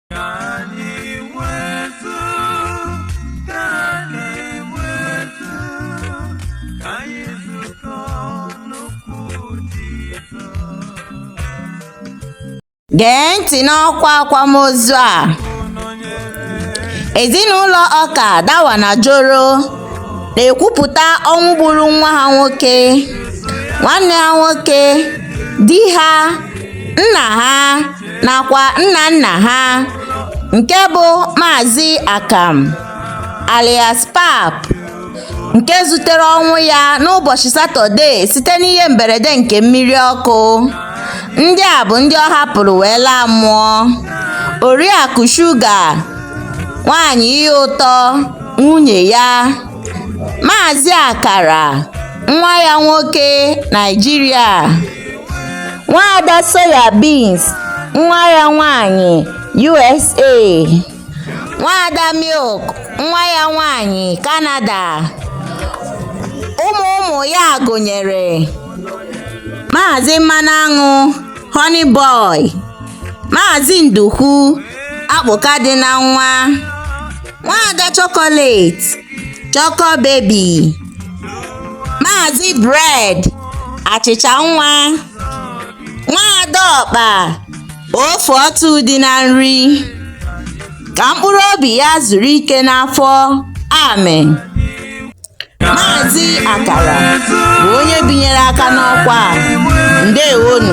Ka anyị nwetu, ka anyị nwetu, ka anyị zukọ n'okwu Jizọs. gee ntị n'ọkwa akwamozu a ezinụlọ ọka dawa na joro na-ekwupụta ọnwụ gburu nwa ha nwoke nwanne ha nwoke di ha nna ha nakwa nna nna ha nke bụ Maazị Akamụ alias Pap nke zutere ọnwụ ya n'ụbọchị Satọde site n'ihe mberede nke mmiri ọkụ. Ndị a bụ ndị ọ hapụrụ wee laa mmụọ. Oriakụ Shuga, nwaanyị ihe ụtọ, nwunye ya, Maazị Akara, nwa ya nwoke, Naịjirịa. Nwaada Soya Beans, nwa ya nwaanyị, USA. Nwaada Milk, nwa ya nwaanyị, Canada. Ụmụ ụmụ ya gụnyere Maazị Mmanụ Aṅụ, Honey Boy, Maazị Ndukwu, Akpụka dị na nwa, Nwaada Chocolate, Choco Baby. Maazị Bread achịcha nwa nwaada ọkpa ofe ọtụ dị na nri ka mkpụrụ obi ya zuru ike n'afọ amen Maazị Akara bụ onye binyere aka n'ọkwa a ndewonu